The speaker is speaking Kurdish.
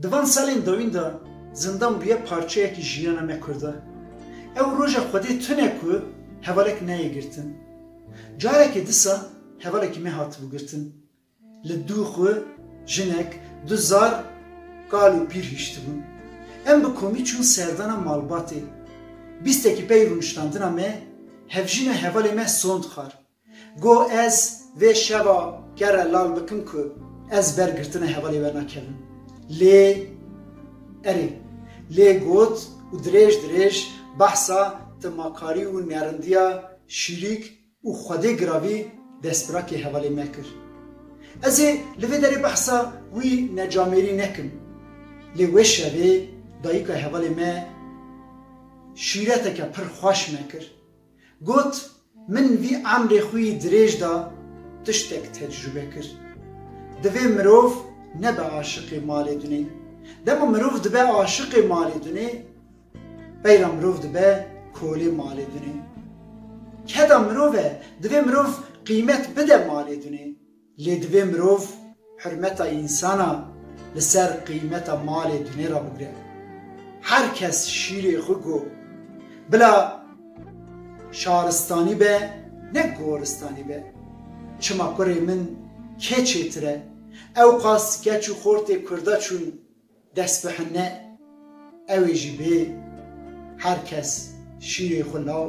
Di van salên dawîn de zindan bûye parçeyekî jiyana me Kurda. Ew roja xwedê tune ku hevalek neyê girtin. Carekê disa hevalekî me hatibû girtin. Li dû xwe, jinek, du zar, kal û pîr hiştibûn. Em bi komî çûn serdana malbatê. Bîstekî pey rûniştandina me, hevjîna hevalê me sond xar. Go ez vê şeva kere lal bikim ku ez ber girtina hevalê we nakevim. Lê erê. Lê got û dirêj dirêj behsa timakarî û nerindiya şîrîk û xwedê giravî destbirakê hevalê me kir. Ez ê li vê derê behsa wî necamêrî nekim. Lê wê şevê dayika hevalê me şîreteke pir xweş me kir. Got, Min vî emrê xwe yî dirêj da, tiştek tecrûbe kir. Divê mirov nebe aşiqê malê dunê. Dema mirov dibe aşiqê malê dunê, beyra mirov dibe kolê malê dunê. Keda mirov e, divê mirov qîmet bide malê dunê. Lê divê mirov hurmeta însana li ser qîmeta malê dunê re bigire. Her kes şîrê xwe ku bila şaristanî be ne goristanî be. Çima kurê min kê çêtir e? Ewqas keç û xortê kurda çûn destbihinne. Ew ê jî bê her kes şîrê xwe law.